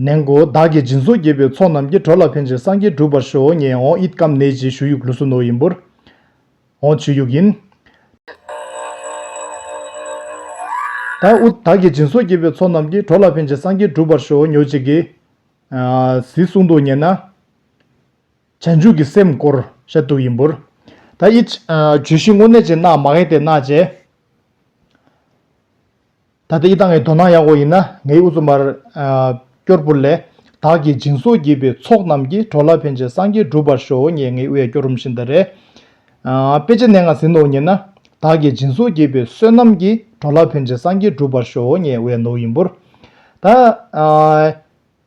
ནན་གོ་བདག་གིས་སྦྱིན་སོགས་དགྱེས་པའི་ཚོགས་རྣམས་ཀྱི་བྲོ་ལ་ཕན་ཅིང་སངས་རྒྱས་གྲུབ་པར་ཤོག་ངས་ཨོང་ཨིད་སྐམ་ནེ་ཅེས་ཞུ་ཡུག་ལུ་སུ་ནོ་ཡིན་པོར། ཨོང་བྱུ་ཡུག་ཡིན། ད་ཨུ་བདག་གིས་སྦྱིན་སོགས་དགྱེས་པའི་ཚོགས་རྣམས་ཀྱི་བྲོ་ལ་ཕན་ཅིང་སངས་རྒྱས་གྲུབ་པར་ཤོག་ཉོ་ཅིག་གིས། ཟིའི་གསུང་དུ་ཉན་ན། བྱང་ཆུབ་ཀྱི་སེམས་བསྐོར་ཤ་དུག་ཡིན་པོར། ད་ཨིད། བྱུ་ཤིང་སྔོ་ནད་ཅན་རྣག་མ་ཧེ་ཏའི་རྣག་ཅན། ད་ལྟ་ཡི་དྭགས་ངའི་དོ་སྣང་ཡག་གོ་ཡིན་ན་ངའི་འུ་ཚོ་མར། སྐྱོར་བུ་ལས། དྭགས་ཀྱི་སྦྱིན་སོགས་བགྱིས་པའི་ཚོགས་རྣམས་ཀྱིས་གྲོ་ལ་ཕན་ཆད་སངས་རྒྱས་འགྲུབ་པར་ཤོག་ངས་ངའི་འུ་ཡ་སྐྱོར་རུམ་ཤིན་ཏུ་རེད། དཔེ་ཆ་གནས་ངང་ཟིན་ནོ་ཉེས་ན། དྭགས་ཀྱི་སྦྱིན་སོགས་བགྱིས་པའི་བསོད་ནམས་ཀྱིས་གྲོ་ལ་ཕན་ཆད་སངས་རྒྱས་འགྲུབ་པར་ཤོག་ངས་འུ་ཡ་ནོ་ཡིན་འབུར། ད།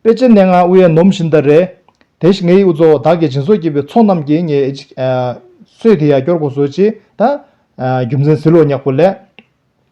དཔེ་ཆ་གནས་ངང་འུ་ཡ་ནོམ་ཤིན་ཏུ་རེད། དེ་ཞིག་ངའི་འུ་ཚོ་དྭགས་ཀྱི་སྦྱིན་སོགས་བགྱིས་པའི་ཚོགས་རྣམས་ཀྱིས་ངའི་ཨེ། སོས་དེ་ཡ་སྐྱོར་གོ་བཟོ་ཅིག་ད། རྒྱུ་མཚན་ཟིལ་ལོག་ཉག་བུ་ལས།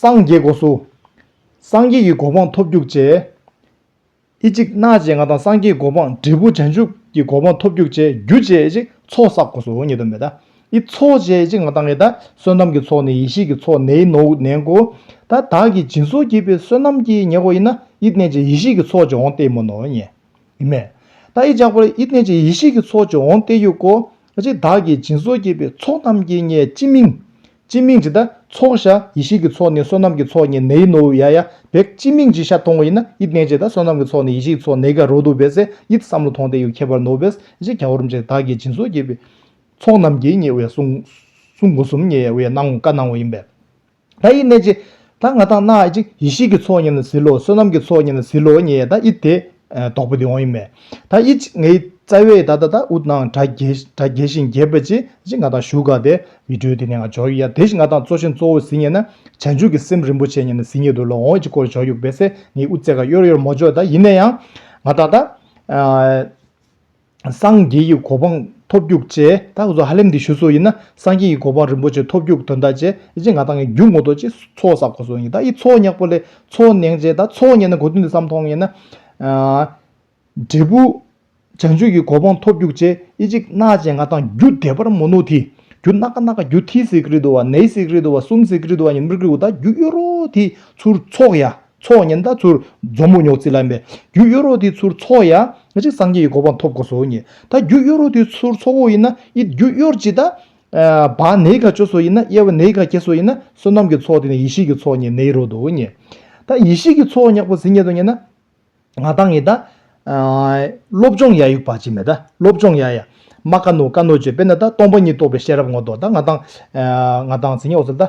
སངས་རྒྱས་སྒོ་སུ། སངས་རྒྱས་ཀྱི་གོ་འཕང་ཐོབ་འགྱུར་བཅས། ཨི་ཅིག་སྣ་བཅས་ང་དང་སངས་རྒྱས་གོ་འཕང་འབྲས་བུ་བྱང་ཆུབ་ཀྱི་གོ་འཕང་ཐོབ་འགྱུར་བཅས་རྒྱུ་བཅས་ཨི་ཅིག་ཚོགས་བསག་གོ་སུ་ཉིད་དུ་མེད། ཨི་ཚོགས་བཅས་ཨི་ཅིག་ང་དང་ཨི་དང་བསོད་ནམས་ཀྱི་ཚོགས་ནི་ཡེ་ཤེས་ཀྱི་ཚོགས་ནེ་ཨི་ནོ་ཨུ་ནན་གོ། ད་བདག་གིས་སྦྱིན་སོགས་བགྱིས་པའི་བསོད་ནམས་ཀྱིས་ཉེ་གོ་ཨི་ན་ཨི་གནས་བཅས་ཡེ་ཤེས་ཀྱི་ཚོགས་ཀྱིས་འོང་སྟེ་མོ་ནོ་ཉེ་ཨི་མེ། ད་ཨི་ཅག་པར་ཨི་གནས་བཅས་ཡེ་ཤེས་ཀྱི་ཚོགས་ཀྱིས་འོང་སྟེ་ཡུ་གོ། ཨི་ཅིག་བདག་གིས་སྦྱིན་སོགས་བགྱིས་པའི་ཚོགས་རྣམས་ཀྱིས་ཉེ་ཅི་མིང། ཅི་མིང་ཇི་ད་ཚོགས་ཤ་ཡེ་ཤེས་ཀྱི་ཚོགས་ནི་བསོད་ནམས་ཀྱི་ཚོགས་ནི་ནེ་ཡི་ནོ་ཝུ་ཡ་ཡ་བེག་ཅི་མིང་ཇི་ཤ་ཐོང་ངོ་ཡིན་ན་ཡིད་གནས་ཇི་ད་བསོད་ནམས་ཀྱི་ཚོགས་ནི་ཡེ་ཤེས་ཀྱི་ཚོགས་ནེ་ག་རོ་དུ་བེ་སེ་ཡིད་བསམ་ལོ་ཐོང་ཏེ་ཡུ་ཁྱད་པར་ནོ་བེ་སེ་ག་བོར་མཇེ་དག་གི་སྦྱིན་སོགས་བསྐྱེད་པའི་ཚོགས་རྣམས་ཀྱིས་ཉེ་བའི་གསུང་གསུང་གོ་གསུམ་ཉེ་བའི་གནང་བ་གནང་བ་ཡིན་པས་ད་ཡིད་གནས་ཇི་ད་ང་ཐང་ན་ཨ་ཅིག་ཡེ་ཤེས་ཀྱི་ཚོགས་ཉིད་ལ་ཟིལ་ལོ་བསོད་ནམས་ཀྱི་ཚོགས་ཉིད་ལ་ཟིལ་ལོ་ཉེ་ད་ཨི་དེ། དོག་པོ་དེ་འོང་ཡི་མེད། ད་ཨི་ཅིག་ངའི་རྩ་བའི་ད་ད་ད་འུ་ནང་དྲ་རྒྱའི་ཞིང་རྒྱས་པ་ཅིག་ཨ་ཅིག་ང་ཐང་བཞུགས་ག་དེ་བི་ཏྲོའི་དེ་ནས་ང་འཇོག་ཡི་ཡ་དེ་བཞིན་ང་ཐང་གཙོ་ཆེན་གཙོ་བོ་ཟིན་ཉེ་ན་བྱང་ཆུབ་ཀྱི་སེམས་རིན་པོ་ཆེ་ཉེ་ན་ཟིན་ཉེ་དུ་ལ་འོང་ཨི་ཅིག་སྐོར་འཇོག་ཡུག་པས་སེ་ངའི་འུ་ཙེ་ག་གཡོར་གཡོར་མོ་འཇོག་ད་ཡིན་ན་ཡང་ང་ད་ད། སངས་རྒྱས་ཀྱི་གོ་འཕང་ཐོབ་རྒྱུག་བཅས་ད་གཟོད་ཧ་ལེམ་འདི་ཞུ་སྲོལ་ཡིན་ན་སངས་རྒྱས་ཀྱི་གོ་འཕང་རིན་པོ་ཆེ་ཐོབ་རྒྱུག་དོན་དག་བཅས་ཨེ་ཅེ་ང་ད་ངས་རྒྱུག་ངོ་ཐོག་ཅེས་ཚོགས་བསགས་གོ་སོང་ཡིན་ད་ཡིས་ཚོགས་སྙག་པོ་ལས་ཚོགས་གནང་བཅས་ད་ཚོགས་གཉེར་ན་གོ་དོན་འདི་བསམ་མཐོང་ཡིན་ན། འབྲས་བུ། བྱང་ཆུབ་ཀྱི་གོ་འཕང་ཐོབ་རྒྱུག་བཅས་ཨེ་ཅེ་གནག་ཅེས་ང་ད་རྒྱུ་བདེ་བར་མོ་ནུ་དྷི་རྒྱུ་གནག་གནག་རྒྱུ་དྷི་སི་ཀི་རི་དུ་བ་ནའི་སི་ཀི་རི་དུ་བ་སུམ་སི་ཀི་རི་དུ་བ་ཉིན་མིར་ཀི་རུ་ད་རྒྱུ་གཡོ་རོ་དྷི་ཚུར་ཚོགས་ཡ། ཚོགས་ཉི་ཟླ་ཚུར་མཛོ་མོ་ཉོག་རྩིས་ལ་མེད། རྒྱུ་གཡོ་རོགས་དེའི་ཚུར་ཚོགས་ཡ། གཅིག་སངས་རྒྱས་ཀྱི་གོ་འཕང་ཐོབ་དགོས་སོ་གཉིས། ད་རྒྱུ་གཡོ་རོགས་དེའི་ཚུར་ཚོགས་འོག་ཡིན་ན་ཨི། རྒྱུ་གཡོར་གྱི་ད། བ་ནེའི་ཁ་ཅོ་སོ་ཡིན་ན་དབྱེ་བ་ནེའི་ཁ་ཁྱེད་སོ་ཡིན་ན་བསོད་ནམས་ཀྱི་ཚོགས་དེ་ནི་ཡེ་ཤེས་ཀྱི་ཚོགས་ཉིད་ནེའི་རོགས་དུ་གཉིས། ད་ཡེ་ཤེས་ཀྱི་ཚོགས་ཉག་པོ་ཟིན་ཉེ་དུ་ཉེ་ན། ང་ཐང་ཡི་ད། སློབ་སྦྱོང་ཡ་ཡུག་པ་གཅིག་མེད་ད་སློབ་སྦྱོང་ཡ་ཡ། མ་ཀ་ནོ་ཀ་ནོ་ཅེས་པས་ན་ད་སྟོང་པ་ཉིད་རྟོགས་པའི་ཤེས་རབ་ངོ་ཏོག་ད་ང་ཐང། ང་ཐང་ཟིན་ཉེ་འོག་ཟིན་ད།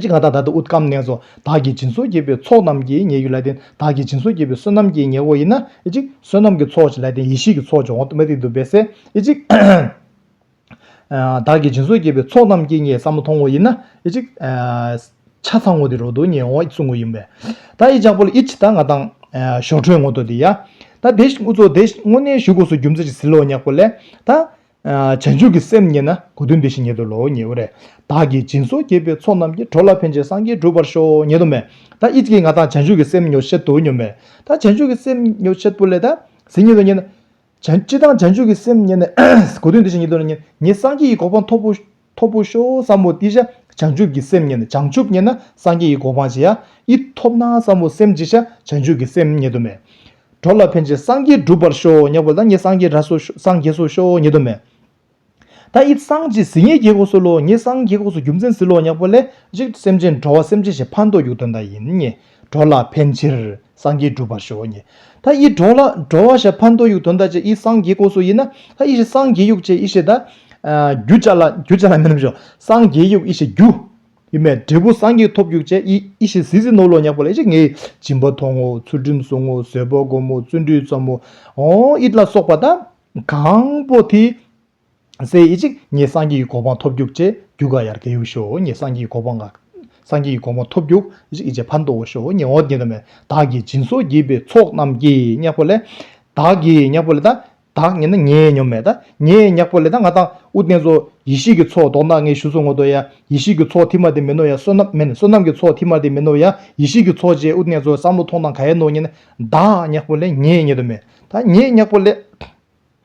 ཅི་གང་དག་བདག་ཏུ་ཨུཏྤ་ཀམ་ནས་སོ། བདག་གིས་སྦྱིན་སོགས་བགྱིས་པའི་ཚོགས་རྣམས་ཀྱི་ཉེ་ཡུལ་ལ་བརྟེན་བདག་གིས་སྦྱིན་སོགས་བགྱིས་པའི་བསོད་ནམས་ཀྱི་ཉེ་བོ་ཡིན་ན། བསོད་ནམས་ཀྱི་ཚོགས་ཀྱི་ལ་བརྟེན་ཡེ་ཤེས་ཀྱི་ཚོགས་ཀྱི་འོག་ཏུ་མ་ཏིག་ཏུ་འབད་ཟེར། བདག་གིས་སྦྱིན་སོགས་བགྱིས་པའི་ཚོགས་རྣམས་ཀྱི་ཉེ་ས་མ་མཐོང་ངོ་ཡིན་ན། ཆ་ཚང་ངོ་སྟེ་རོ་དུ་ཉེ་འོག་སུ་ངོ་ཡིན་པས། ད་ཡིག་ཅག་པོ་ལ་ཨི་ཇི་ད་ང་དང། ཞོ་དྲོད་ངོ་ཏོ་དེ་ཡ། ད་དེ་བཞིན་དབུ་ཚོགས་དེ། དངོས་གནས་བཞུགས་སྒོ་སུ་རྒྱུ་མཚན་ཅིག་ཟིལ་ལོ་ཉག་པོ་ལས། ད། བྱང་ཆུབ་ཀྱི་སེམས་རྙེད་ན་གོ་དོན་འདི་བཞིན་ཉིད་དུ་ལོག་ངེས་པ་རེད། བདག་གིས་སྦྱིན་སོགས་བསྐྱེད་པའི་ཚོགས་རྣམས་ཀྱིས་གྲོགས་ལ་ཕན་ཅིང་སངས་རྒྱས་འགྲུབ་པར་ཤོག་ཉེ་དུ་མས། ད་ཨི་ཙཀའི་ང་དང་བྱང་ཆུབ་ཀྱི་སེམས་ཉོ་བྱེད་དུ་ཉོ་མེད། ད་བྱང་ཆུབ་ཀྱི་སེམས་ཉོ་བྱེད་པུ་ལས་ད་གཟི་ཉིད་དུ་རྙེད་ན། ཅི་དང་བྱང་ཆུབ་ཀྱི་སེམས་རྙེད་ནས། གོ་དོན་འདི་བཞིན་ཉིད་དུ་རྙེད། ངས་སངས་རྒྱས་ཀྱི་གོ་འཕང་འཐོབ་བོ། ཐོབ་བོ་ཤོག་བསམ་བོ་ཏི་ཤ་བྱང་ཆུབ་ཀྱི་སེམས་རྙེད་ན་བྱང་ཆུབ་རྙེད་ན་སངས་རྒྱས་ཀྱི་གོ་འཕང་ཇི་ཡ་ཨི་ཐོབ་ན་བསམ་བོ་སེམས་ཅི་ཤ་བྱང་ཆུབ་ཀྱི་སེམས་རྙེད་དོ་མེད། གྲོ་ལ་ཕན་ཅིང་སངས་རྒྱས་བསྒྲུབ་པར་ཤོག་སྙགས་པོ་ལ་ངེད་སངས་རྒྱས་ར་སོ་ཤོག་སངས་རྒྱས་སོ་ཤོག་རྙེད་དོ་མེད། ད་ཨི་སངས་རྒྱས་ཟིལ་ངེད་རྒྱལ་གོག་སོལ་ལོ་ངེད་སངས་རྒྱས་གོག་སོ་རྒྱུ་མཚན་ཟིལ་ལོ་སྙགས་པོ་ལས་གཅིག་སེམས་ཅན་འགྲོ་བ་སེམས་ཅན་ཞེས་ཕ་མདོག་རྒྱུག་དོན་དག་ཡིན་ངེས། འགྲོ་ལ་ཕན་ཕྱིར་སངས་རྒྱས་འགྲུབ་པར་ཤོག། ད་ཨི་འགྲོ་ལ་འགྲོ་བ་ཞེས་ཕ་མདོ་ཡུག་དོན་དག་ཅེས་ཨི་སངས་རྒྱས་ཀོ་སོ་ཡིན་ན་ད་ཨི་ཞེས་སངས་རྒྱས་ཡུག་ཅེས་ཨི་ཞེས་ད། རྒྱུ་ཅཱ་ལ་རྒྱུ་ཅཱ་ལ་མིན་ནོ་ཞོ་སངས་རྒྱས་ཡུག་ཨི་ཞེས་རྒྱུ། ཡུ་མེད་འབྲས་བུ་སངས་རྒྱས་ཐོབ་ཡུག་ཅེས་ཨི་ཞེས་ཟི་ཟི་ནོ་ལོ་ཉག་པོ་ལ་ཨི་ཞེས་ངེས་སྦྱིན་པ་ཐོང་ངོ་ཚུལ་ཁྲིམས་བསྲུང་ངོ་བཟོད་པ་བསྒོམ་མོ་བརྩོན་འགྲུས་བརྩམ་མོ་ཨོ་ཨི་ལ་སོགས་པ་ད། གང་པོ་དེ། སའི་ཡིད་གཅིག་ངེས་སངས་རྒྱས་ཀྱི་གོ་འཕང་ཐོབ་རྒྱུག་ཅེས་རྒྱུག་ག་ཡར་ག་ཡུག་ཤོ་ངེས་སངས་རྒྱས་ཀྱི་གོ་འཕང་ག་སངས་རྒྱས་ཀྱི་གོ་འཕང་ཐོབ་རྒྱུག་ཡིད་གཅིག་ཕར་འདོག་ཤོ་ངེས་འོག་འདི་འདྲ་མེད་བདག་གིས་སྦྱིན་སོགས་བགྱིས་པའི་ཚོགས་རྣམས་ཀྱིས་གཉེགས་པོ་ལས། བདག་གིས་གཉེགས་པོ་ལས་དང་བདག་ངེས་ན་ངའི་སྙོམས་མེད་དང་ངས་གཉེགས་པོ་ལས་དང་ང་དང་དབུ་རྟེན་ཚོགས་ཡེ་ཤེས་ཀྱི་ཚོགས་བཟློག་ན་ངས་ཞུ་གསུང་ངོ་དོ་ཡ་ཡེ་ཤེས་ཀྱི་ཚོགས་ཐིག་མ་དེ་མིན་ནོ་ཡ་བསོད་ནམས་མིན་བསོད་ནམས་ཀྱི་ཚོགས་ཐིག་མ་དེ་མིན་ནོ་ཡ་ཡེ་ཤེས་ཀྱི་ཚོགས་བཅས་དབུ་རྟེན་ཚོགས་བསམ་བློ་ཐོང་དང་ག་ཡལ་ནོ་ངེས་ན་བདག་གཉེགས་པོ་ལས་ངས་ངེས་དོན་མེད་དང་ངས་གཉེགས་པོ་ལས།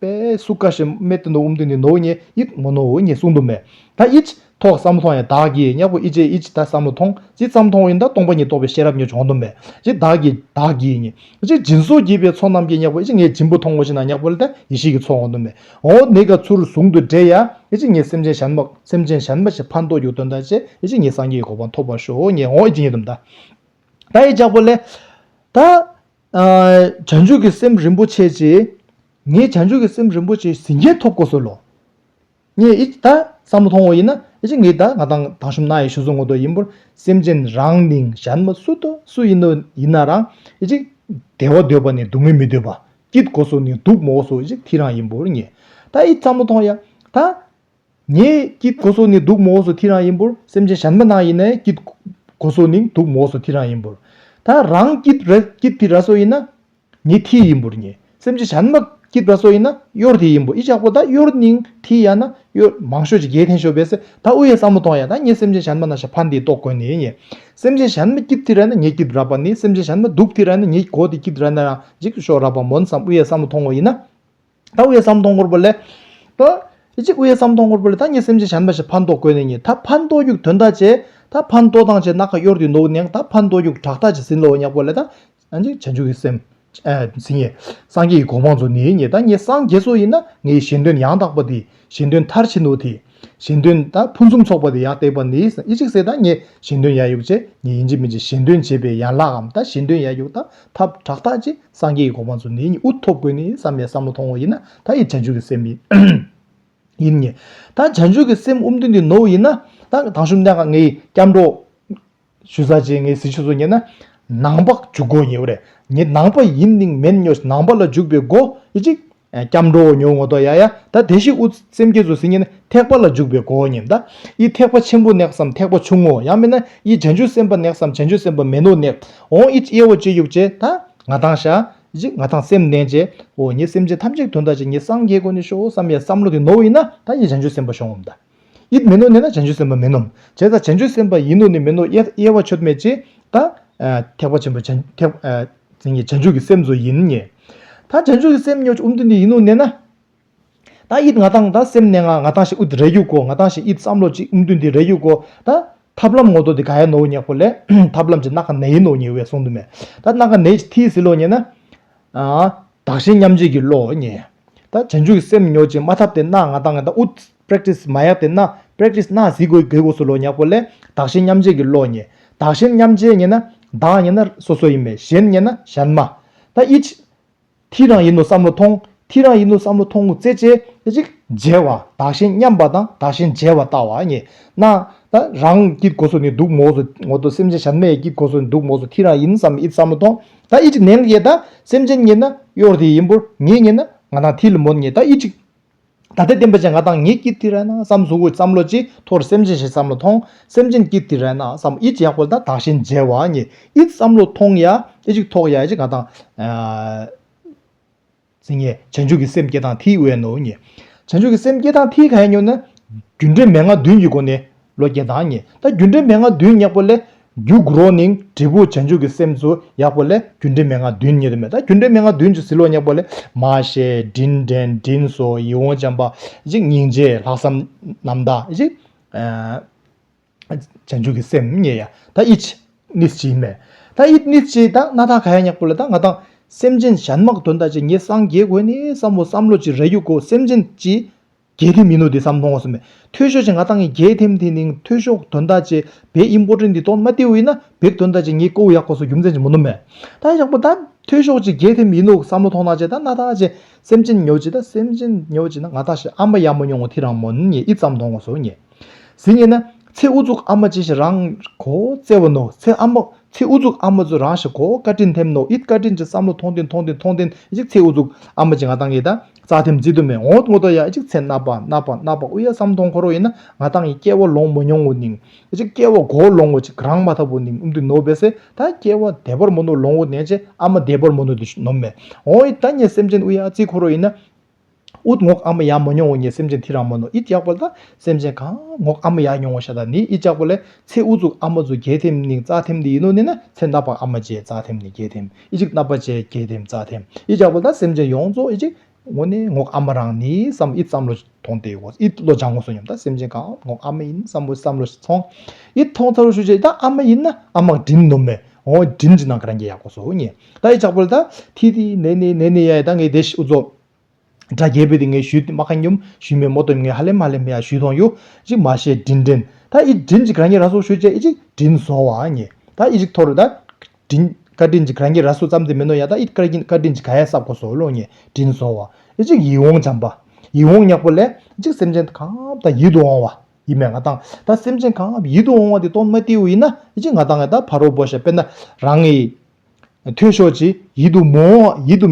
པས་སུ་ཀ་ཤི་མེ་ཏི་ནོ་འུམ་ཏི་ནི་ནོ་ཉེ་ཨིད་མོ་ནོ་ཨི་ཉེ་སུང་དུ་མེ། ད་ཨིད། ཐོག་བསམ་བློ་ཐོང་ཡ་དག་གིས་ཉེ་པོ་ཨི་ཅེ་ཨིད་ད་བསམ་བློ་ཐོང་ཅི་ཙམ་ཐོང་ཨིན་ད་སྟོང་པ་ཉིད་རྟོགས་པའི་ཤེས་རབ་ཉིད་འབྱོང་དུ་མེ། ཅི་དག་གིས་དག་གིས་ཉེ་ཅི་སྦྱིན་བཟོ་བགྱིད་པའི་ཚོགས་རྣམས་ཀྱིས་ཉེ་པོ་ཨི་ཅེ་ངས་སྦྱིན་པོ་ཐོང་ངོ་ཤི་ན་ཉེ་པོ་ལ་ད་ཡེ་ཤེས་ཀྱི་ཚོགས་འོང་དུ་མེ། འོ་ནི་ག་ཚུར་བཟུང་དུ་འདྲེ་ཡ་ཨི་ཅེ་ངས་སེམས་ཅན་ཞན་མ་སེམས་ཅན་ཞན་མ་ཞེས་ཕ་མདོག་རྒྱུག་དོན་ད་ཅེ་ཨི་ཅེ་ངས་སངས་རྒྱས་ཀྱི་གོ་འཕང་ཐོབ་པར་ཤོག་ངས་འོ་ཨི་ཅེ་ངས་དུ་མདའ་ད་ཨི་ཅག་པོ་ལས། ད། བྱང་ཆུབ་ཀྱི་སེམས་རིན་པོ་ཆེ་ཆེ། ངས་བྱང་ཆུབ་ཀྱི་སེམས་རིན་པོ་ཆེ་ཟིན་རྒྱན་ཐོབ་གོ་གསོལ་ལོ། ངས་ཨི་ད་བསམ་བློ་ཐོང་བ་ཡིན་ན་ཨེ་ཅི་ངས་ད་ང་དང་དང་ཞུམ་ན་ཡི་ཞུ་སོང་ངོ་ཏོ་ཡིན་པོར་སེམས་ཅན་རང་མིང་གཞན་མ་སུ་དོ་སུ་ཡིན་ནོ་ཡིན་ན་རང་ཨེ་ཅི་བདེ་བ་འདོད་པ་ནས་སྡུག་བསྔལ་མི་འདོད་པ་སྐྱིད་གོ་སོ་ནས་སྡུག་མོ་གོ་སོ་ཨེ་ཅི་དྷི་རང་ཡིན་པོར་ངས་ད་ཨི་བསམ་བློ་ཐོང་ཡ་ད་ངའི་སྐྱིད་གོ་སོ་ནི་སྡུག་མོ་སོ་ཐི་རང་ཡིན་པོར་སེམས་ཅན་གཞན་མ་ན་ཡིན་ནའི་སྐྱིད་གོ་སོ་ནིང་སྡུག་མོ་སོ་ཐི་རང་ཡིན་པོར། ད་རང་སྐྱིད་ར་སྐྱིད་ཐི་ར་སོ་ཡིན་ན། ནི་ཐི་ཡིན་པོར་ཉེ། སེམས་ཅན་གཞན་མ་སྐྱིད་ར་སོ་ཡིན་ན་གཡོར་ཐི་ཡིན་པོ་ཨི་ཅག་པོ་ད་གཡོར་ནིང་ཐི་ཡ་ན་གཡོར་མང་ཤོས་ཅི་རྒྱལ་ཐེན་ཤོས་བས་སེ་ད་ཨུ་ཡའི་བསམ་བློ་ཐོང་ཡ་ད་ཉེ་སེམས་ཅན་གཞན་མ་ན་ཞབས་ཕ་འདིའི་ཏོག་དགོན་ནི་ཉེ། སེམས་ཅན་གཞན་མ་སྐྱིད་ཐི་ར་ན་ཉེ་སྐྱིད་ར་པ་ནི་སེམས་ཅན་གཞན་མ་སྡུག་ཐི་ར་ན་ཉེ་གོ་ཐི་སྐྱིད་ར་ན་རང་འཇིག་ཏུ་ཤོག་ར་པ་མོ་ནི་བསམ་ཨུ་ཡའི་བསམ་བློ་ཐོང་བ་ཡིན་ན། ད་དབུས་སམ་སྟོང་སྐོར་པོ་ལས། ད་གཅིག་དབུས་སམ་སྟོང་སྐོར་པོ་ལས་ད་གཉིས་སེམས་ཅན་བྱམས་པ་ཞེས་ཕར་འདོགས་དགོས་ནས་གཉིས་ད་ཕར་འདོགས་རྒྱུག་དོན་ད་ཅེ་ད་ཕར་འདོགས་དང་ཅེ་སྣ་ཁ་གཡོར་དུས་འདོགས་ནས་ད་ཕར་འདོགས་རྒྱུག་དྲག་ད་ཅེ་ཟིན་ལོ་བ་ཉག་པོ་ལས་ད་གཅིག་བྱང་ཆུབ་ཀྱི་སེམས། ཟིན་ངེས། སངས་རྒྱས་ཀྱི་གོ་འཕང་ཚོ་ནི་གཉིས་ད་གཉིས་སངས་རྒྱས་ཚོ་ཡིན་ན་ངའི་གཞན་དོན་ཡང་དག་པ་དེ་གཞན་དོན་མཐར་ཕྱིན་ནོ་དེ། གཞན་དོན་ད་ཕུན་སུམ་ཚོགས་པ་དེ་ཡང་སྟེགས་པ་ནི་ཨེ་གཅིག་སེ་ད་ངས་གཞན་དོན་ཡ་ཡུག་ཅེ་ངས་ཡིན་གཅིག་མིན་གཅིག་གཞན་དོན་བྱེད་པའི་ཡན་ལག་གམ་ད་གཞན་དོན་ཡ་ཡུག་ད་ཐབས་དྲག་ད་ཅེ། སངས་རྒྱས་ཀྱི་གོ་འཕང་ཚུལ་འདི་ཉིད་འུ་ཐོབ་དགོས་ནི་བསམ་པའི་བསམ་བློ་ཐོང་བོ་ཡིན་ན་ད་ཡི་བྱང་ཆུབ་ཀྱི་སེམས་ཡིན་ངེས། ད་བྱང་ཆུབ་ཀྱི་སེམས་དབུ་མཐུན་འདི་ནོར་བོ་ཡིན་ན། ད་དང་ཞུམ་ལྡན་ཁ་ངའི་སྐྱབས་འགྲོ། ཞུ་ས་ཅན་ངའི་གཟི་བྱིན་སོགས་ཉན་ན། ནང་པ་འཇུག་སྒོ་ཉེ་བོ་རེད། ངས་ནང་པ་ཡིན་ནིང་མེད་སྨྱོ་ཞིང་ནང་པ་ལ་འཇུག་པའི་སྒོ་ཡི་གཅིག། སྐྱབས་འགྲོ་འོ་ཉོ་ངོ་ཏོག་ཡ་ཡ་ད་དེ་ཤི་འུ་སེམས་སྐྱེ་ཚུ་སི་ཉན་ཐེག་པ་ལ་འཇུག་པའི་གོ་ཉན་ད་ཡི་ཐེག་པ་ཆེན་པོ next སམ་ཐེག་པ་ཆུང་ངོ་ཡང་མིན་ན་ཡི་བྱང་ཆུ་སེམས་པ next སམ་བྱང་ཆུ་སེམས་པ་མེད་ནོ next འོང་ཡི་དབྱེ་བ་ཅི་ཡོག་ཅེ་ད་ང་དང་ཤ་ཡི་ང་དང་སེམས་ནན་ཅེ་འོ་ཉི་སེམས་ཅན་ཐམས་ཅད་དོན་དག་ཅིག་ཉི་སངས་རྒྱས་གོ་ནི་ཤོག་སམ་ཡ་བསམ་བློ་དེ་ནོར་བ་ཡིན་ན་ད་ཡི་བྱང་ཆུ་སེམས་པ་ཤོང་ངམ་ད། ཡིད་མི་ནོར་ནི་ན་བྱང་ཆུབ་སེམས་དཔའ་མིན་ནོ། བྱས་ཙང་བྱང་ཆུབ་སེམས་དཔའ་ཡིན་ནོ་ནི་མིན་ནོ་དབྱེ་བ་ཆོད་མེད་ཅེས་དང། ཐེག་པ་ཆེན་པོ་བྱང་ཆུབ་ཀྱི་སེམས་སུ་ཡིན་ངེས། ད་བྱང་ཆུབ་ཀྱི་སེམས་ཉོ་འོམ་དུ་འདི་ཡིན་ནོ་ནས་ན། ད་ཡིད་ང་དང་ད་སེམས་གནས་ང་ང་དང་ཞེས་ཨུཏྤ་རས་གཡུག་གོ་ང་དང་ཞེས་ཡིད་བསམ་བློ་ཅིག་འོམ་དུ་འདི་རས་གཡུག་གོ། ད་ཐབས་ལམ་ངོ་ཏོ་འདི་ག་ཡ་ནོའོ་ཉེག་པོ་ལས། ཐབས་ལམ་གྱི་སྣ་ཁ་ནས་ཡིན་ནོ་ཉེ་བས་གསུང་དུ་མེད། ད་སྣ་ཁ་ནས་ཀྱི་མཐིལ་ཟིལ་ལོ་ཉེ་ན། བདག་གཞན་མཉམ་བརྗེས་ཀྱི་བློའོ་ཉེ། ད་བྱང་ཆུབ་ཀྱི་སེམས་ཉོ་ཅིག་མ་ཐབས་དེ་སྣ་ང་དང་ང་དང་ཨུཏྤ། Practice མ་ཡག་དེ་ན Practice ན་གཟིགས་དགོས་དགོས་སུ་ལོ་ཉག་པོ་ལས་བདག་གཞན་མཉམ་བརྗེ་གི་བློ་ཉེ། བདག་གཞན་མཉམ་བརྗེ་ཉེ་ན་བདག་ཉེ་ན་སོ་སོ་ཡིན་པས་གཞན་ཉེ་ན་གཞན་མ། ད་ཨིཆ། དྷི་རང་ཡིན་ནོ་བསམ་བློ་ཐོང་དྷི་རང་ཡིན་ནོ་བསམ་བློ་ཐོང་ངོ་ཙེ་ཅེ་ཅིག། བརྗེ་བ་བདག་གཞན་མཉམ་པ་དང་བདག་གཞན་བརྗེ་བ་ལྟ་བ་ཉེ། ན། ད་རང་སྐྱིད་གོ་སུ་ནི་འདུག་མོ་སུ་ངོ་ཏོ་སེམས་ཅན་གཞན་མའི་སྐྱིད་གོ་སུ་ནི་འདུག་མོ་སུ་དྷི་རང་ཡིན་བསམ་ཨིཆ་བསམ་བློ་ཐོང་ད་ཨིཆ་ནེང་ཡེ་ད་སེམས་ཅན་ཉེ་ན་གཡོར་དྷི་ཡིན་པོར་ངེད་ཉེ་ན་ང་དང་དྷི་ལི་མོ་ཉེ་ད་ཨིཆ། ད་ལྟའི་བསྟན་པ་ཅན་ང་དང་ངེད་ཀྱིས་དེ་རན་བསམ་གཟུགས་ཀྱི་བསམ་བློ་ཅིག་ཐོར་སེམས་ཅན་ཞིག་བསམ་བློ་ཐོང་སེམས་ཅན་གྱིས་དེ་རན་བསམ་ཨི་ཅི་ཡག་པོ་དང་དག་ཞིང་མཇལ་བ་ངེད་ཨིས་བསམ་བློ་ཐོང་ཡ་ཨི་ཅིག་ཐོག་ཡ་ཨི་ཅིག་ང་དང་ཚིག་ངེད་བྱང་ཆུབ་ཀྱི་སེམས་བསྐྱེད་དང་ཐིག་དབེན་ནོ་ངེད་བྱང་ཆུབ་ཀྱི་སེམས་བསྐྱེད་དང་ཐིག་ག་ཡིན་ཉོ་ན་རྒྱུ་འབྲས་མན་ངག་བདུན་གྱི་སྒོ་ནས་བློ་རྒྱན་དང་ཉི་ཟླ་སྒྱུ་འདྲའི་མན་ངག་བདུན་སྙེགས་པོ་ལས། རྒྱུ་གུ་རོ་ནིང་དྲིལ་བུ་བྱང་ཆུབ་ཀྱི་སེམས་སུ་ཡག་པོ་ལས་སྒྱུ་འདྲའི་མན་ངག་བདུན་ཉི་ཟླ་མེ་ཟླ་སྒྱུ་འདྲའི་མན་ངག་བདུན་གྱི་ཟིལ་ལོག་སྙེགས་པོ་ལས། མ་ཤེས་དྲིན་དྲན་དྲིན་སོ་ཡིད་འོང་བྱམས་པ་གཅིག་སྙིང་རྗེ་ལྷག་བསམ་རྣམ་དག་གཅིག། བྱང་ཆུབ་ཀྱི་སེམས་གཉིས་ཡ་ད་ཨིཅི་ནིས་ཅི་ཡིན་མེད་ད་ཨིད་ནིས་ཅི་ད་སྣ་ཐག་ག་ཡ་སྙེགས་པོ་ལས་ད་ང་དང། སེམས་ཅན་གཞན་དམག་དོན་དག་ཅིག་ངེད་སངས་རྒྱས་དགོས་ནི་བསམ་བོ་བསམ་བློ་ཅིག་རེ་གཡུག་གོ་སེམས་ཅན་གྱི་རྒྱལ་ཐེམ་ཡིན་ནོ་དེ་བསམ་མཐོང་བ་སུ་མེད་འཐོས་ཤོག་ཅེས་ང་ཏང་གི་རྒྱལ་ཐེམ་དེ་ནིང་འཐོས་ཤོག་དོན་དག་ཅེས་བེད་ཡིན་པོ་ཏྲེ་འདི་ཏོག་མ་སྟེ་འུ་ཡིན་ན་བེད་དོན་དག་ཅེས་ངས་ཀོའུ་ཡག་པོ་སོ་རྒྱུ་མཚན་ཅི་མོ་ནོ་མེད་ད་ཡག་པོ་ད་འཐོས་ཤོག་ཅེས་རྒྱལ་ཐེམ་ཡིན་ནོ་བསམ་བློ་ཐོང་ནག་ཅེས་ད་ནག་ཐག་ཅེས་སེམས་ཅན་ཉོ་ཅེས་ད་སེམས་ཅན་ཉོ་ཅེས་ན་ང་ཐག་ཤི་ཨ་མ་ཡག་མོ་མྱོང་ངོ་ཐི་རང་མོ་ནི་ངས་ཨི་བསམ་མཐོང་བ་སོ་ངས་ཟི་ངས་ན་ཚེ་དབུ་གཙུག་ཨ་མ་ཅེས་ཤི་རང་གོ་བཙལ་བ་ནོ་ཚེ་ཨ་མ་ཚེ་དབུ་གཙུག་ཨ་མ་ཚོས་རང་ཤི་གོ་བཀའ་དྲིན་ཐེམ་ནོ་ཨིད་བཀའ་དྲིན་ཅེས་བསམ་བློ་ཐོང་ཏི་མཐོང་ཏི་མཐོང་ཏི་ཅེས་ཚེ་དབུ་གཙུག་ཨ་མ་ཅེས་ང་ཏང་གི་ད། རྩ་ཐིམ་རྩིས་དུ་མས་ངོ་བོ་ཐོག་ཐོག་ཡ་གཅིག་ཚེ་རྣ་བ་རྣ་བ་རྣ་བ་དབུ་ཡ་སམ་སྟོང་འཁོར་བ་ཡིན་ན་ང་ཐང་གིས་སྐྱེ་བ་ལོང་མ་མྱོང་བོ་ནིང་ཡ་གཅིག་སྐྱེ་བ་གོ་ལོང་བོ་ཅིག་རང་མ་ཐ་བོ་ནིང་འུམ་དུ་ནོ་བེ་སེ་ད་སྐྱེ་བ་དད་པར་མོ་ནོ་ལོང་བོ་ནེ་ཅེ་ཨ་མ་དད་པར་མོ་ནོ་དེ་ནོ་མེ་འོ་ཡི་ད་ངེད་སེམས་ཅན་དབུ་ཡ་རྩིས་འཁོར་བ་ཡིན་ན་ཨུད་ངོགས་ཨ་མ་ཡ་མ་མྱོང་བོ་ངེད་སེམས་ཅན་དྷི་ར་མ་ནོ་ཨི་ཅག་པོ་ལ་སེམས་ཅན་གང་ངོགས་ཨ་མ་ཡ་མྱོང་བོ་ཤ་ད་ནི་ཨི་ཅག་པོ་ལས་ཚེ་དབུ་གཙུག་ཨ་མ་གཙུག་རྒྱལ་ཐིམ་ནིང་རྩ་ཐིམ་དེ་ཡིན་ནོ་ནེ་ན་ཚེ་རྣ་བ་ཨ་མ་ཅེ་རྩ་ཐིམ་ནི་རྒྱལ་ཐིམ། ཨི་ཅིག་རྣ་བ་བཅད་དགྱེས་དེམ་རྩ་དེམ་ཨི་ཅག་པོ་ད་སེམས་ཅན་ཡོངས་རྫོགས་ཨི་ཅིག། ངོ་ནི་ངོགས་ཨ་མ་རང་ནི་བསམ་ཨི་བསམ་བློ་ཐོང་དེ་ཨོ་ཨི་བློ་སྦྱང་ངོ་བསོ་སྙོམས་ད་སེམས་ཅན་གང་ངོགས་ཨ་མ་ཡིན་བསམ་བོ་བསམ་བློ་ཐོང། ཨི་ཐོང་ཚ་རུ་ཤུ་བྱས་ད་ཨ་མ་ཡིན་ན་ཨ་མག་འགྲིམ་ནོ་མེ་ཨོ་འགྲིམ་ཅི་ནང་གི་རང་རྒྱལ་ཡག་པོ་བསོ་ངེས་ད་ཨི་ཅག་པོ་ད་ཐི་ཐི་ནེ་ནེ་ནེ་ནེ་ཡ་ཡ་ད་ངའི་དེ་ཤི་འུ་ཚོ། སྒྲ་རྒྱལ་པོས་དེ་ངས་ཞུས་ཏེ་མ་ཁ་སྙོམས་ཞུས་མས་མོ་སྟོན་ངས་ཧ་ལེ་མ་ཧ་ལེ་མ་ཡ་ཞུས་ཐོང་ཡོ་ཅིག་མ་ཤེས་དྲིན་དྲིན་ད་ཨི་དྲིན་ཅིག་ར་ཉེ་ར་སོ་ཞུས་ཅེ་ཨི་ཅིག་དྲིན་བཟོ་བ་ཉེ་ད་ཨི་ཅིག་ཐོ་རུ་ད་དྲིན་བཀའ་དྲིན་ཅིག་ར་ཉེ་ར་སོ་ཙམ་དེ་མིན་ནོ་ཡ་ད་ཨི་བཀའ་དྲིན་བཀའ་དྲིན་ཅིག་ག་ཡ་སབ་གོ་སོ་ལོ་ཉེ་དྲིན་བཟོ་བ་ཨི་ཅིག་ཡིད་འོང་བྱམས་པ་ཡིད་འོང་ཉག་པོ་ལེ་ཨི་ཅིག་སེམས་ཅན་གང་ཨབ་ད་ཡིད་དུ་འོང་བ་ཡིད་མས་ང་དང་ད་སེམས་ཅན་གང་ཨབ་ཡིད་དུ་འོང་བ་དེ་སྟོང་མ་ཏེའུ་ཡིན་ན་ཨི་ཅིག་ང་དང་ཨི་ད་ཕ་རོ་བོ་ཞབས་པད་ན་རང་ཨི། ཐོས་ཤོག་ཅེས་ཡིད་དུ་མི་འོང་བ་ཡིད་དུ་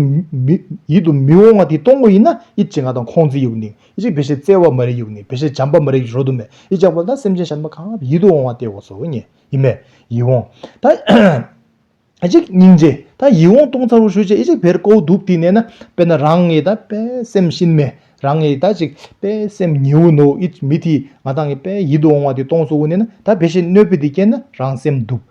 ཡིད་དུ་མི་འོང་བ་དེ་གཏོང་གོ་ཡིན་ན་ཡིད་ཀྱི་ང་དང་ཁོང་ཚིག་ཡུག་ནིག་ཡིད་ཀྱི་བེ་ཤེས་བཙལ་བ་མ་རིག་ཡུག་ནིག་བེ་ཤེས་བྱམས་པ་མ་རིག་རོ་དུ་མས་ཡིད་ཀྱང་བོར་ན་སེམས་ཅན་གཞན་པ་གང་ཡིད་དུ་འོང་བ་དེ་འོ་སོ་ཉེ་ཡིད་མེད་ཡིད་འོང་ད་ཅིག་སྙིང་རྗེ་ད་ཡིད་འོང་སྟོང་ཚར་བུ་ཤོད་ཅེས་ཡིད་ཅིག་བེར་ཀོའུ་དུབ་དེ་གནས་ན་དཔེར་ན་རང་ངེད་ད་པས་སེམས་གཤིན་མེ་རང་ངེད་ད་ཅིག་པས་སེམས་ཉི་འོ་ནོ་ཡིད་མི་དེས་ང་ད་ངེད་པས་ཡིད་དུ་འོང་བ་དེ་གཏོང་སོ་འོ་གནས་ན་ད་བེ་ཤེས་གནོད་པས་དེ་སྐྱེས་ན་རང་སེམས་དུབ།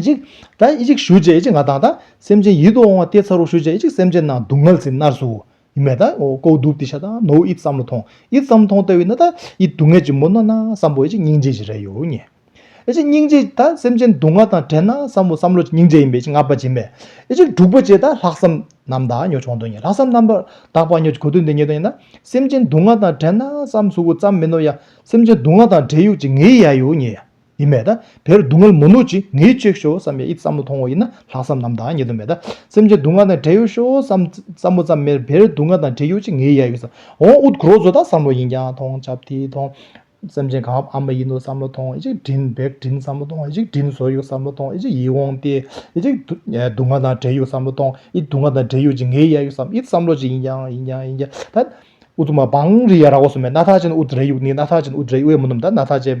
ཅིག། ད་ཨི་ཅིག་ཞུ་བྱས་ཨི་ཅིག་ང་དང་ད། སེམས་ཅན་ཡིད་དུ་འོང་བ་སྟེ་ཚ་རུ་ཞུ་བྱས་ཨི་ཅིག་སེམས་ཅན་རྣམས་སྡུག་བསྔལ་ཟིན་ནར་སུ། ཡིན་མེད་ད། ཀོའུ་དུག་ཏི་ཤ་ད་ནོའུ་ཨིད་བསམ་བློ་ཐོང་ཨིད་བསམ་བློ་ཐོང་ལྟ་བུས་ན་ད་ཨི་སྡུག་བསྔལ་གྱི་མུ་ན་ན་བསམ་བོ་ཨི་ཅིག་སྙིང་རྗེ་གྱི་རེ་ཡོ་ཉེ། ཨི་ཅིག་སྙིང་རྗེ་ད་སེམས་ཅན་སྡུག་བསྔལ་དང་བྲལ་ན་བསམ་བོ་བསམ་བློ་སྙིང་རྗེ་ཡིན་པས་ཨི་ཅིག་ང་བ་གྱིན་མེད། ཨི་ཅིག་དྲུག་པ་བྱས་ད་ལྷག་བསམ་རྣམས་དག་ཉོ་ཆོག་འདོད་ཉེ་ལྷག་བསམ་རྣམ་པར་དག་པ་ཉོ་གོ་དོན་དེ་ཉེ་དོན་ཡིན་ན་སེམས་ཅན་སྡུག་བསྔལ་དང་བྲལ་ན་བསམ་གཟུགས་བུ་ཙམ་མིན་ནོ་ཡ་སེམས་ཅན་སྡུག་བསྔལ་དང་བྲལ་ཡོ་ཅིག་ངའི་ཡ་ཡོ་ཉེ། ཡིན་མེད་ད། བེར་སྡུག་བསྔལ་མོ་ནུ་ཅི་ངའི་གཅེས་ཤོག་བསམ་ཡས་ཨི་བསམ་བློ་ཐོང་བ་ཡིན་ན་ལྷག་བསམ་ནམ་ད་ཉེ་དུ་མེད་ད། སེམས་ཅན་སྡུག་བསྔལ་དང་བྲལ་ཡོད་ཤོག་བསམ། བསམ་བློ་ཙམ་མེད་བེར་སྡུག་བསྔལ་དང་བྲལ་ཡོད་ཅི་ངའི་ཡ་ཡོད་བསམ། འོང་ཨུཏ་གུ་རོ་བཟོ་ད་བསམ་བློ་ཡིན་ཀྱང་ཐོང་ཆབ་དེའི་ཐོང། སེམས་ཅན་གངས་བབས་ཨ་མ་ཡིན་ནུ་བསམ་བློ་ཐོང་ཨི་ཅིག་དྲིན་བེག་དྲིན་བསམ་བློ་ཐོང་ཨི་ཅིག་དྲིན་བཟོ་ཡོད་བསམ་བློ་ཐོང་ཨི་ཅིག་ཡིད་འོང་སྟེ་ཨི་ཅིག། སྡུག་བསྔལ་དང་བྲལ་ཡོད་བསམ་བློ་ཐོང་ཨི་སྡུག་བསྔལ་དང་བྲལ་ཡོད་ཅི་ངའི་ཡ་ཡོད་བསམ་ཨི་བསམ་བློ་ཅི་ཡིན་ཀྱང་ཡིན་ཀྱང་ཡིན་ཀྱང་ད། ཨུཏུ་མ་བང་རི་ཡ་ར་བ་སོ་མེད་སྣ་ཐག་ཅན་ཨུཏ་རེ་ཡུག་ནི་སྣ་ཐག་ཅན་ཨུཏ་རེ་ཨི་བས་མོ་ནུམ་ད་སྣ་ཐག་ཅན།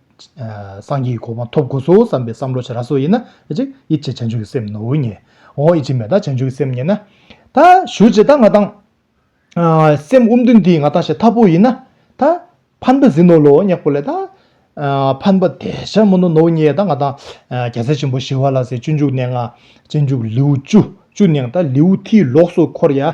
སངས་རྒྱས་ཀྱི་གོ་འཕང་ཐོབ་དགོས་སོ་བསམ་པའི་བསམ་བློ་བྱ་ར་སོགས་ཡིན་ན། ཨེ་ཅི། ཡིད་བྱེད་བྱང་ཆུབ་ཀྱི་སེམས་ནོར་བུ་རྙེད། འོ་ཨེ་ཅི་མེད་ད་བྱང་ཆུབ་ཀྱི་སེམས་རྙེད་ན། ད་ཞུ་ཅི་ད་ང་དང། སེམས་དབུ་མདུན་འདི་ང་དང་ཞེས་འཐབ་པོ་ཡིན་ན། ད། ཕན་པ་ཟིན་ནོ་ལོ་སྙེག་པོ་ལས་ད། ཕན་པ་དད་བྱ་མོ་ནོ་ནོར་བུ་རྙེད་ད་ང་དང། རྒྱལ་སྲས་ཆེན་པོ་ཞི་བ་ལ་སའི་སྤྱོད་འཇུག་གནས་ལྔ། སྤྱོད་འཇུག་ལེའུ་བཅུ་བཅུ་གནང་ད་ལེའུ་མཐིལ་ལོགས་སུ་འཁོར་ཡ།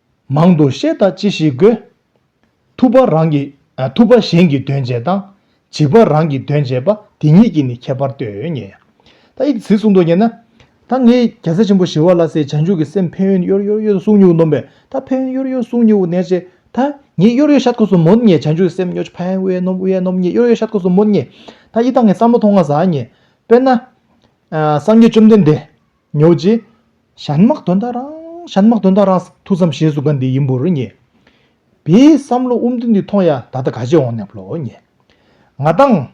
མང་དུ་བཤད་དང་ཅི་ཞིག་དགོས། ཐུབ་པ་རང་གི་ཐུབ་པ་གཞན་གྱི་དོན་བྱེད་དང། བྱིས་པ་རང་གི་དོན་བྱེད་པ་དེ་གཉིས་ཀྱི་ནི་ཁྱད་པར་ལྟོས་ངེས། ད་ཡིག་ཚིག་གསུངས་འདུག་ངེས་ན། ད་ངས་རྒྱལ་སྲས་ཆེན་པོ་ཞི་བ་ལ་སའི་བྱང་ཆུབ་ཀྱི་སེམས་ཕན་ཡོན་གཡོར་གཡོར་གཡོ་གསུང་ཉུག་ནོམ་པས་ད་ཕན་ཡོན་གཡོར་གཡོར་གསུང་ཉུག་ནས་ཅི་ད་ངས་གཡོར་གཡོར་ཤ་ཐུགས་སུ་མོད་ངས་བྱང་ཆུབ་ཀྱི་སེམས་གཡོར་ཕན་ཡོན་ནོམ་གཡོ་ནོམ་ངས་གཡོར་གཡོར་ཤ་ཐུགས་སུ་མོད་ངས་ད་ཡི་དྭགས་ངས་བསམ་བློ་ཐོང་ང་ཟ་ངས་དཔེར་ན། སངས་རྒྱས་བཅོམ་ལྡན་འདས། ཉོ་རྗེས། ཞྭ་དམག་དོན་དག་རང། ཞྭ་དམག་དོན་དག་རང། ཐུགས་བསམ་བཞེས་སུ་ག་འདི་ཡིན་འབུར་ཉེ། བའི་བསམ་བློ་དབུ་མདུན་འདི་ཐོང་ཡ་ད་ལྟ་ག་ཞེས་འོང་ནས་བློ་ཉེ། ང་དང།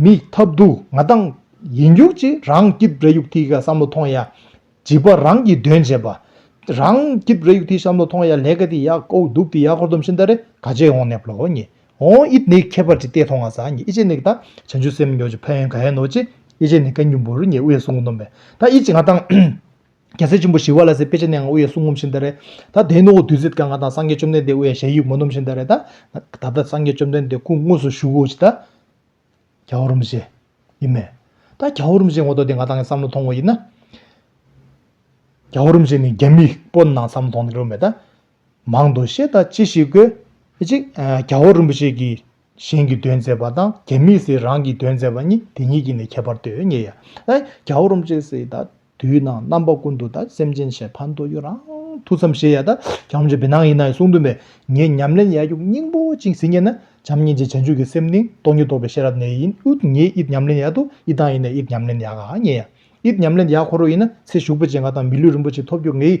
མི། ཐབས་སྡུག་ང་དང། ཡིན་རྒྱུག་ཅི་རང་སྐྱིད་རེ་ཡུག་ཐིག་ག་བསམ་བློ་ཐོང་ཡ། བྱིས་པ་རང་གིས་དོན་བྱེད་པ། རང་སྐྱིད་རེ་ཡུག་ཐིག་བསམ་བློ་ཐོང་ཡ་ལས་ཀ་འདི་ཡག་ཨོའུ་སྡུག་འདི་ཡག་ཁོར་དུམ་ཤིང་རྟ་རེ་ག་ཅེས་འོང་ནས་བློ་ཉེ། ཧོང་ཨིད་ནི་ཁྱད་པར་ཅི་སྟེ་མཐོང་ང་སངས་ངེ་ཨི་ཅེ་ནི་གདའ། བྱང་ཆུབ་སེམས་མྱོང་ཅི་ཕ་ཡན་ག་ཡན་ནོ་ཅེ། ཨི་ཅེ་ནི་ག་ཉུམ་བུར་ངས་དབུ་ཡི་སྲུང་ངོ་ནོམ་པས། ད་ཨི་ཅེ་ང་དང། རྒྱལ་སྲས་ཆེན་པོ་ཞི་བ་ལ་སའི་དཔེ་ཅི་ནས་ང་དབུ་ཡི་སྲུང་ངོམ་བཞིན་ད་རེད། ད་དེ་ནོ་བདུད་རྩི་དཀར་ང་དང་སངས་རྒྱས་བཅོམ་ལྡན་འདས་དབུ་ཡ་ཞལ་ཡིག་མོ་ནོམ་བཞིན་ད་རེད། ད་ད་སངས་རྒྱས་བཅོམ་ལྡན་འདས་སྐུ་དངོས་སུ་བཞུགས་གོ་ཅི་ད། གྱ་བོར་མི་བྱེད། ཡིན་མོད། ད་གྱ་བོར་མི་བྱེད་ངོ་ཏོ་དེ་ང་དང་གི་བསམ་བློ་མཐོང་ངོ་ཡིན་ན། གྱ་བོར་མི་བྱེད་ནི་རྒྱ་མིས་པོ་ནང་བསམ་བློ་མཐོང་ནི་ལོ་མེད་ད། མང་དུ་བཤད་ད་ཅི་ཞིག་དགོས། གཅིག། རྒྱ་བོད་རིན་པོ་ཆེ་གིས་གཞན་གྱི་དོན་མཛད་པ་དང་རྒྱ་མིས་སི་རང་གི་དོན་མཛད་པ་གཉིས་དེ་གཉིས་ཀྱི་ནས་ཁྱད་པར་དོད་ངེས། རྒྱ་བོད་རིན་པོ་ཆེ་སི་ད་དུས་ན་རྣམ་པ་ཀུན་ཏུ་ད་སེམས་ཅན་ཞེ་ཕ་མདོ་ཡོད་རང་ཐུགས་བསམ་ཞེ་ཡ་ད་རྒྱ་རིན་པོ་ཆེ་བི་ནང་ཡིན་ན་ཡི་གསུང་དུ་མས་ངས་ཉམས་ལེན་ཡ་རྒྱུག་སྙིང་པོ་གཅིག་ཟིན་ངེས་ན་བྱམས་སྙིང་རྗེ་བྱང་ཆུབ་ཀྱི་སེམས་ནི་སྟོང་ཉིད་རྟོགས་པའི་ཤེས་རབ་ནས་ཡིན་ཨུཏྤལ་ངས་ཨིཏ་ཉམས་ལེན་ཡ་དུ་ཨིཏ་དང་ཡིན་ན་ཨིཏ་ཉམས་ལེན་ཡ་ག་ངེས། ཨིཏ་ཉམས་ལེན་ཡ་ཁོ་རོ་ཡིན་ན་ཚེ་ཞུགས་པོ་ཆེ་འགའ་དང་མི་ལུས་རིན་པོ་ཆེ་ཐོབ་རྒྱུ་ངེས།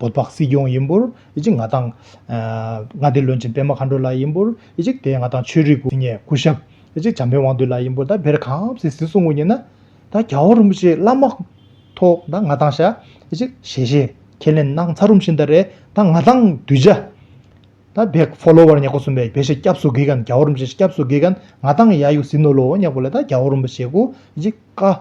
བོད་པ་སྲིད་སྐྱོང་ཡིན་པོར་ཡིད་ཆེས་ང་དང། མངའ་སྡེ་བློན་ཆེན་པད་མ་མཁའ་འགྲོ་ལགས་ཡིན་པོར་ཡིད་ཆེས་དེ་ང་དང་ཆོས་རིག་དབུ་ཉེ་སྐུ་ཞབས་ཡིད་ཆེས་བྱམས་པའི་དབང་འདུས་ལགས་ཡིན་པོར་ད་བེར་གངས་སེ་སི་སུང་ངུ་ཉེ་ན། ད་རྒྱ་བོ་རིན་པོ་ཆེ་བླ་མ་ཐོག་ད་ང་དང་ཤ་ཡིད་ཆེས་ཞེ་ཞེས་ཁས་ལེན་གནང་ཚར་རུམ་བཞིན་ད་རེད་ད་ང་དང་གདུལ་བྱ། ད་བེ་ཧྥོ་ལོ་བར་ཉེ་ཁོ་གསུམ་པའི་བེ་ཤེ་སྐྱབས་སུ་གྷི་གན་རྒྱ་བོ་རིན་པོ་ཆེ་སྐྱབས་སུ་གྷི་གན་ང་དང་ཡ་ཡུ་སི་ནོ་ལོ་བོ་ཉེ་ཁོ་ལ་ད་རྒྱ་བོ་རིན་པོ་ཆེ་སྐུ་ཡིད་ཆེས་བཀའ།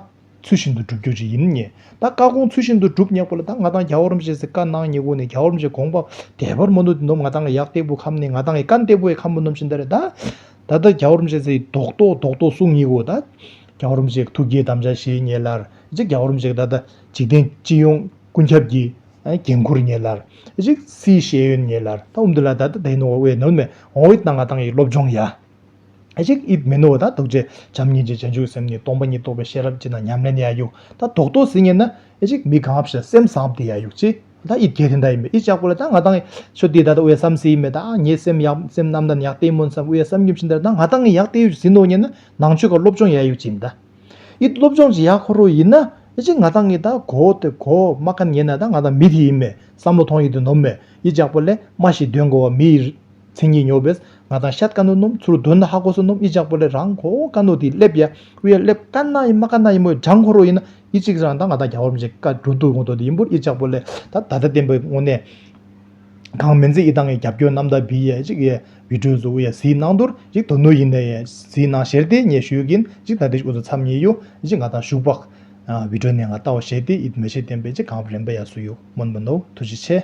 ཚུལ་བཞིན་དུ་བསྒྲུབ་རྒྱུ་ཅི་ཡིན་ངེས། ད་བཀའ་དགོངས་ཚུལ་བཞིན་དུ་བསྒྲུབ་ཉེག་པོ་ལ་ད་ང་ཐང་རྒྱ་བོར་མཆེད་ཟེར་བཀའ་གནང་ཉེ་གུ་ནས་རྒྱ་བོར་མཆེད་དགོངས་པ་དད་པར་མ་ནུ་དེ་ནོམ་ང་ཐང་གི་གཡག་སྟེགས་བུ་ཁམས་ནས་ང་ཐང་གི་ཀ་འདེགས་བུ་ཡི་ཁམས་བུ་ནོམ་བཞིན་དེ་རེད་ད། ད་ད་རྒྱ་བོར་མཆེད་ཟེར་ཡི་དོག་རྟོག་རྡོག་རྡོག་གསུང་ཉེ་གུ་ད། རྒྱ་བོར་མཆེད་ཐུགས་དགྱེས་དམ་བཅའ་བཞེས་ཉེ་ལར་ཅིག་རྒྱ་བོར་མཆེད་ད་ད་འཇིག་རྟེན་སྤྱི་ཡོངས་ཀུན་ཁྱབ་ཀྱི་འགན་ཁུར་ཉེ་ལར་ཅིག་སིའི་ཤེས་ཡོན་ཉེ་ལར་ད་འུམ་དེ་ལ་ད་ད་དེ་ནོ་བའི་ནོར་མེད་འོང་བའི་ད་ང་ཐང་གི་སློབ་སྦྱོང་ཡ། གཞིག། དབྱིབས་མི་ནོར་བ་དང་རྟོགས་བྱའི་བྱམས་སྙིང་རྗེ་བྱང་ཆུབ་སེམས་ནི་སྟོང་པ་ཉིད་རྟོགས་པའི་ཤེས་རབ་ཅིག་ན་ཉམས་ལེན་ཡ་ཡུག་དང་རྡོག་རྡོག་ཟིན་ངེས་ན། གཞིག། མི་གང་བ་བཞིན་སེམས་བཟང་བ་དེ་ཡ་ཡུག་ཅིག་ན་དབྱིབས་གལ་ཏེ་མདའ་ཡིན་པས་དབྱིབས་ཅག་པོ་ལ་ད་ང་དང་ཆོས་དེ་ད་ད་དབའས་བསམ་སེ་ཡིན་པས་ད་ངས་སེམས་ཡག་སེམས་རྣམ་དང་ཡག་བལྟས་སྨོན་བསམ་དབའས་བསམ་ཉིན་བཞིན་དར་ད་ང་དང་ངས་ཡག་བལྟས་ཡུག་ཟིན་ནོ་ངེས་ན་ནང་ཆོས་ཀ་སློབ་སྦྱོང་ཡ་ཡུག་ཅིག་མདའ། དབྱིབས་སློབ་སྦྱོང་ཅིག་ཡ་ཁོ་རོ་ཡིན་ན། གཞིག། ང་དང་ངས་ད་གོ་དེ་གོ་མ་ཁ་ངེས་ན་ད་ང་དང་མི་དེ་ཡིན་མེད་བསམ་བློ་ཐོང་ཡིག་དེ་ནོམ་མེད་དབྱིབས་ཅག་པོ་ལས་སྨྲ་ཞིག་འདོན་དགོས་བ་མི་ཡི་མཚན་ཉིད་ཉོབ་བས་ང་དང་ཤཱཏཀ་ནོར་སྣུམ་ཚུར་འདོན་ན་ཧ་གོ་སོ་སྣུམ་ཨི་ཅག་པོ་ལས་རང་གོ་ཀ་ནོར་དེའི་སླེབ་ཡ་དབུ་ཡ་སླེབ་དཀའ་ན་ཡི་མ་དཀའ་ན་ཡི་མོ་ལྗང་ཁོ་རོ་ཡིན་ན་ཡི་གཅིག་རང་དང་ང་དང་རྒྱ་བོར་མི་བྱེད་ཀ་འགྲོ་འདུག་ཡོང་དོགས་དེ་ཡིན་པོར་ཨི་ཅག་པོ་ལས་ད་ད་ད་བསྟན་པའི་དངོས་གནས་གང་མིན་ཚེ་ཨི་དང་ཨི་རྒྱབ་སྐྱོར་རྣམ་དག་བི་ཡ་གཅིག་ཡ་བི་གྲོས་སུ་དབུ་ཡ་ཟིའི་ནང་དུར་ཡིག་དོ་ནུ་ཡིན་ན་ཡ་ཟིའི་ནང་བཞེར་ཏེ་ངས་ཞུས་གིན་གཅིག་ད་དེ་ཀུ་ཚོ་འཚམ་ཉེ་ཡོ་ཨི་གཅིག་ང་དང་བཞུགས་པ་བི་གྲོས་ནས་ང་ལྟ་བ་བཞེས་ཏེ་ཨི་མོ་བྱེད་བསྟན་པའི་གཅིག་གངས་རི་རིམ་པ་ཡ་སུ་ཡོ་མོ་མི་ནོར་ཐུགས་རྗེ་ཆེ།